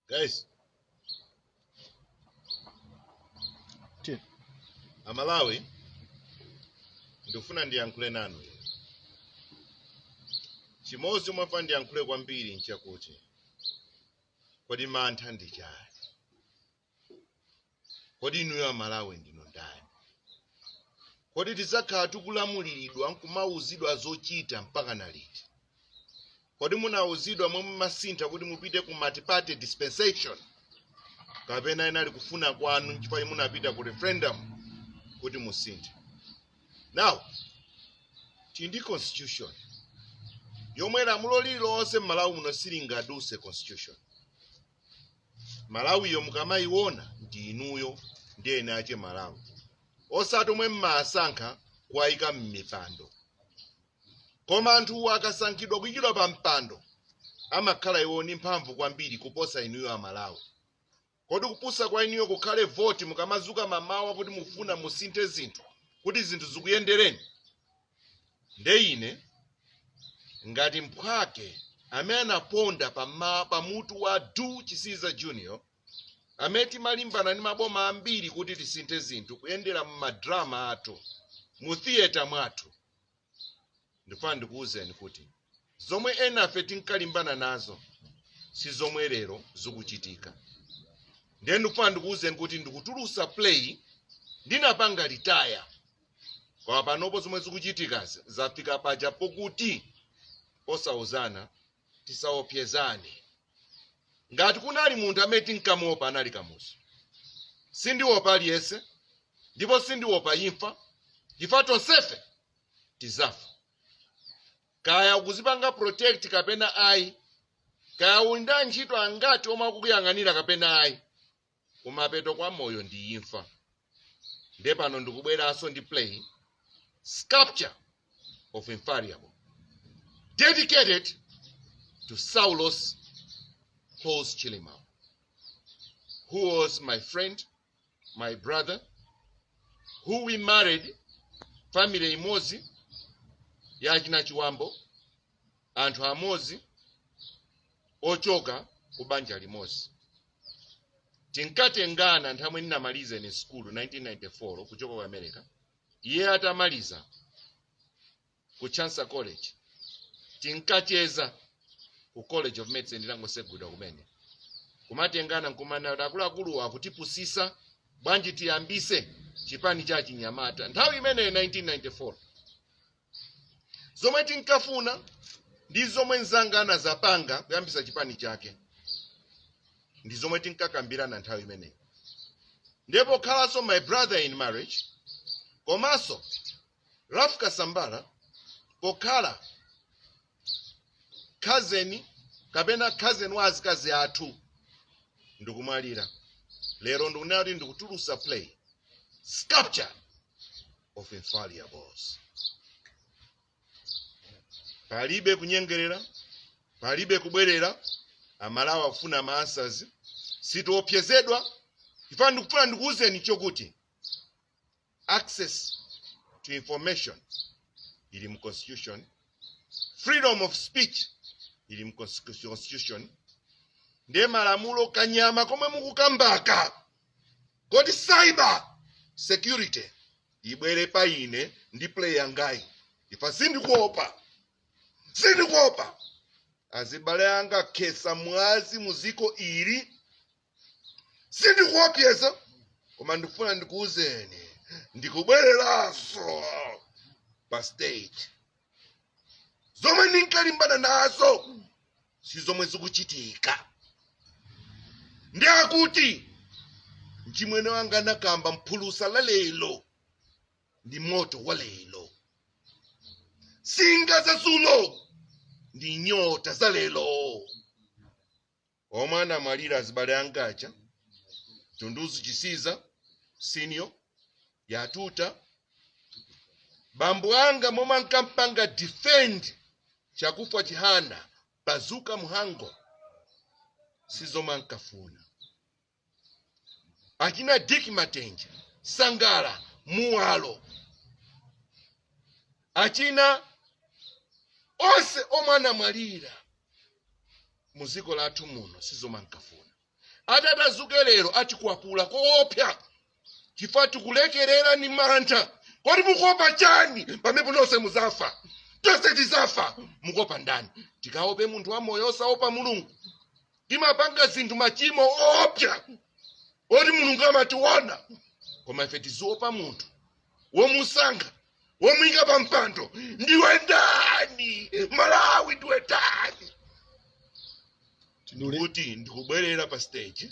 guys amalawi ndikufuna ndiyankhule nanu chimodzi chomwe ndiyankhule kwambiri nchakuti kodi mantha ndi chani kodi inuyo amalawi ndinu ndani kodi tidzakhala tikulamuliridwa nkumauzidwa zochita mpaka na liti kodi munauzidwa momwe munasintha kuti mupite ku multiparty dispensation kapena inali kufuna kwanu nchifukwa chake munapita ku referendum kuti musinthe now tili ndi constitution yomwe lamulo lililonse m'malawi muno silingaduse constitution malawiyo mukamayiona ndi inuyo ndinu eni ache malawi osati omwe mmasankha kuwayika mmipando koma anthuwo akasankhidwa kuyikidwa pa mpando amakhala iwo ndi mphamvu kwambiri kuposa inuyo amalawi kodi kupusa kwa inuyo kukhale voti mukamazuka mamawa kuti mufuna musinthe zinthu kuti zinthu zikuyendereni nde ine ngati mphwake amene anaponda pa mutu wa du chisiza junior amene timalimbana ndi maboma ambiri kuti tisinthe zinthu kuyendera m'madrama athu mu theatre mwathu ndifuna ndikuwuzeni kuti zomwe enafe tinkalimbana nazo si zomwe lero zikuchitika ndiye ndikufuna ndikuwuzeni kuti ndikutulusa play ndinapanga retire koma panopo zomwe zikuchitikazi zafika paja pokuti osauzana tisaopyezane ngati kunali munthu amene tinkamuopa anali kamuzu sindiopa aliyense ndipo sindiopa imfa chifukwa tonsefe tizafa kaya ukuzipanga protect kapena ayi kaya uli ndi antchito angati omwe akukuyang'anira kapena ayi kumapeto kwa moyo ndi imfa nde pano ndikubweranso ndi play sculpture of infallible dedicated to saulos Klaus Chilima, who was my friend my brother who we married family imodzi ya achina chiwambo anthu amodzi ochoka ku banja limodzi tinkatengana nthawi imene ndinamaliza ine sukulu 1994 kuchoka ku america iye atamaliza ku Chancellor college tinkacheza ku college of medicine itangotsegulidwa kumene kumatengana nkumana kuti akuluakuluwa akutipusisa bwanji tiyambise chipani cha achinyamata nthawi imeneyo 1994 zomwe tinkafuna ndi zomwe nzanga anazapanga kuyambisa chipani chake ndi zomwe tinkakambirana nthawi imeneyo ndipo khalanso my brother in marriage komanso Ralph Kasambala pokhala cousin kapena cousin wa azikazi athu ndikumalira lero ndikunena kuti ndikutulutsa play sculpture of infallibles palibe kunyengerera palibe kubwerera amalawi akufuna ma answers sitiophyezedwa chifukwa ndikufuna ndikuwuzeni chokuti access to information ili mu constitution freedom of speech ili mu constitu- constitution ndiye malamulo kanyama komwe mukukambaka koti cyber security ibwere pa ine ndi play yangayi imfa sindikuopa sindikuopa azibale anga anakhetsa mwazi muziko ili sindikuopyeza koma ndikufuna ndikuuzeni ndikubwereranso pa stage zomwe ndinkalimbana nazo si zomwe zikuchitika ndi akuti mchimwene wanga anakamba phulusa la lero ndi moto wa lero singa za dzulo ndi nyota za lero omwe anamwalira azibale anga aja dunduzu chisiza senior yatuta bambo anga momwe ankampanga defend chakufwa chihana bazuka mhango sizomwe ankafuna achina dick matenje sangala muwalo achina onse omwe anamwalira mu dziko lathu muno sizomwe ankafuna atati adzuke lero atikwapula koopsa chifukwa tikulekerera ni mantha kodi mukuopa chani pamene nonse muzafa tonse tizafa mukuopa ndani tikaope munthu wamoyo osaopa mulungu timapanga zinthu machimo oopsa oti mulungu amationa koma ife tiziopa munthu womusankha womuyika pa mpando ndiwe ndani malawi ndiwe ndani ndiye kuti ndikubwerera pa stage